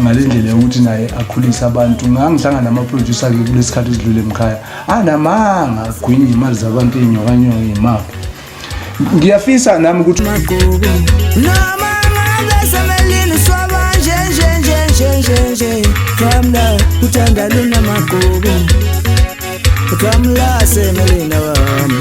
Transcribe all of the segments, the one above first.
ngale ndlela yokuthi naye akhulise abantu ngangihlangana namaproducer ke kulesi sikhathi esidlule emkhaya anamanga agwinye imali zabantu iy'nyokanyoko yimaphi ngiyafisa nami ukuthi Kamla uthanda lona magogo Kamla semelina wami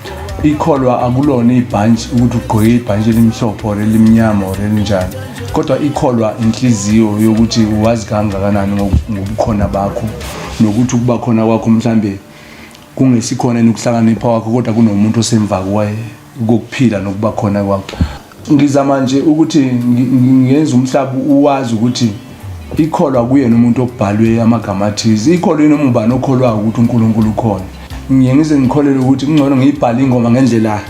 ikholwa akulona ibhantshi ukuthi ugqoke ibhantshi elimhlophe or elimnyama or elinjani kodwa ikholwa inhliziyo yokuthi wazi kangakanani ngobukhona bakho nokuthi ukuba khona kwakho mhlambe kungesikhona nokuhlakanipha wakho kodwa kunomuntu osemva kwaye kokuphila nokuba khona kwakho Ngizama nje ukuthi ngenze umhlaba uwazi ukuthi ikholwa kuyena umuntu okubhalwe amagama athize ikholwa yini umubani okholwayo ukuthi uNkulunkulu ukhona ngiye ngize ngikholelwe ukuthi kungcono ngiyibhale ingoma ngendlela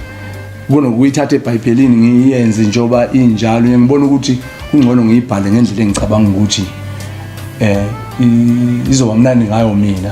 kunokuyithatha ebhayibhelini ngiyenze njengoba injalo ngibona ukuthi kungcono ngiyibhale ngendlela engicabanga ukuthi eh izoba mnandi ngayo mina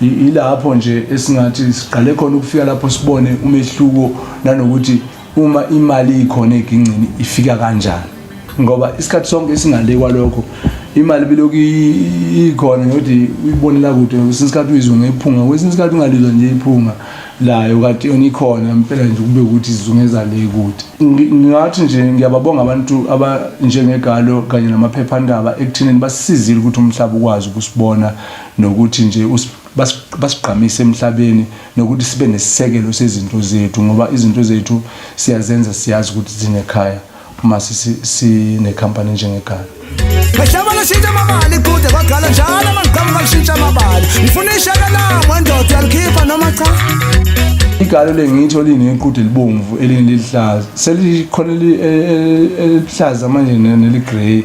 Yilapho nje esingathi siqale khona ukufika lapho sibone umehluko nanokuthi uma imali ikhona egingcini ifika kanjani ngoba isikhathi sonke singale kwalokho imali bilokhu ikhona ngokuthi uyibonela kude kwesinye isikhathi uyizwe ngephunga kwesinye isikhathi ungalizwa nje iphunga layo kati yona ikhona mpela nje kube ukuthi izungeza le kude ngingathi nje ngiyababonga abantu abanjengegalo kanye namaphephandaba ekuthenini basisizile ukuthi umhlaba ukwazi ukusibona nokuthi nje basigqamise emhlabeni nokuthi sibe nesisekelo sezinto zethu ngoba izinto zethu siyazenza siyazi ukuthi zinekhaya uma sinekhampani njengegala Mhlaba lashintsha amabali kude kwagala njalo amagqamu balishintsha amabali ngifuna ishaka lami wendoda yalikhipha noma cha igalo lengitho linequde libomvu elinye liluhlaza selikhona elihlaza manje neligrey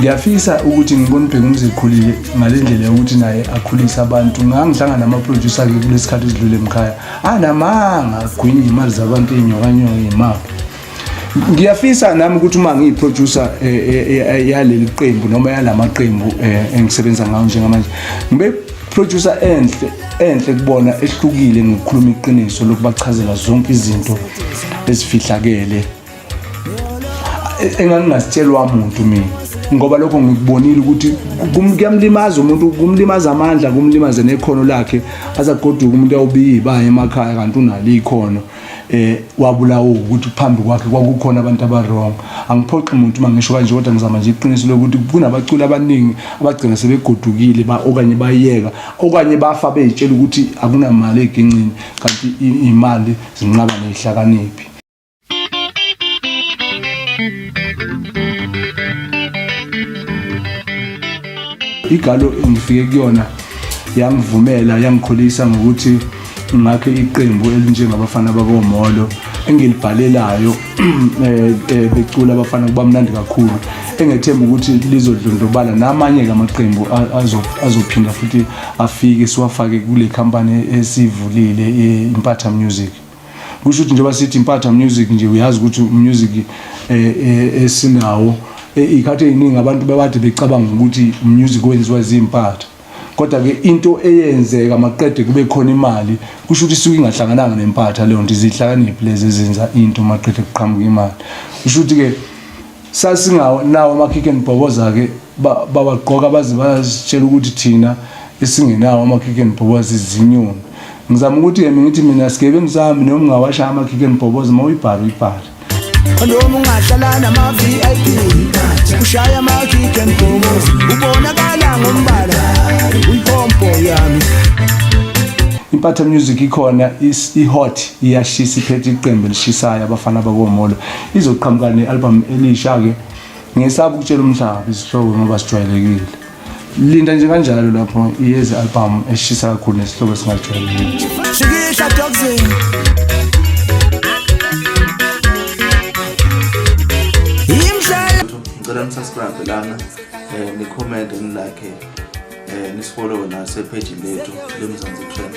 ngiyafisa ukuthi ngibone ubheka umzikhulile ngale ndlela yokuthi naye akhulise abantu ngangihlangana namaproducer-ke kule sikhathi esidlule mkhaya anamanga agwinye imali zabantu iy'nyokanyoko yimaphi ngiyafisa nami ukuthi uma ngiyiproducer e, e, e, yaleli qembu noma yala maqembu engisebenza ngawo njengamanje ngibe producer enhle enhle kubona ehlukile ngokukhuluma iqiniso lokubachazela zonke izinto ezifihlakele engangingasitshelwa muntu mina ngoba lokho ngikubonile ukuthi kuyamlimaza umuntu kumlimaza amandla kumlimaze nekhono lakhe azagoduka umuntu awubiyi baye emakhaya kanti unalo ikhono eh wabulawo ukuthi phambi kwakhe kwakukhona abantu abarong angiphoqi umuntu uma ngisho kanje kodwa ngizama nje iqiniso lokuthi kunabaculi abaningi abagcina sebegodukile ba okanye bayeka okanye bafa bezitshela ukuthi akunamali egincini kanti imali zinqaba nehlakaniphi igalo engifike kuyona yangivumela yangikhulisa ngokuthi ngakhe iqembu elinjengabafana bakomolo engilibhalelayo eh, eh, becula abafana kuba mnandi kakhulu engethemba ukuthi lizodlondlobala namanye-ke amaqembu azophinda futhi afike siwafake kule khampani esivulile eh, impatha music kusho ukuthi njengoba sithi impatha music nje uyazi ukuthi music eh, eh, esinawo eh, ikhathi eziningi abantu babade becabanga ukuthi music wenziwa zimpatha kodwa ke into eyenzeka maqede kube khona imali kusho ukuthi isuke ingahlangananga nempatha leyo nto izihlakaniphi lezi ezenza into maqede kuqhamuka imali kusho ukuthi ke Sasingawo nawo amakhikhi enibhoboza-ke bawagqoka baze basitshela ukuthi thina esingenawo amakhikhi enibhoboza izinyoni. Ngizama ukuthi yena ngithi mina sigebe ngisahambi noma ungawashaya amakhikhi enibhoboza uma uyibhale uyibhale. Noma ungahlala nama-VIP ushaya amakhikhi enibhoboza ubonakala ngombala uyipompo yami. Impatha Music ikhona i-hot iyashisa iphethe iqembu elishisayo abafana bakomolo izoqhamuka ne-albhamu elisha-ke ngesaba ukutshela umhlaba izihloko ngoba sijwayelekile linda nje kanjalo lapho iyezi albhamu eshisa kakhulu nesihloko esingajwayelekile ngicela nisubscribe lana um nikhomente nilakhe um nisifollowe nasephejini lethu lemzansi trend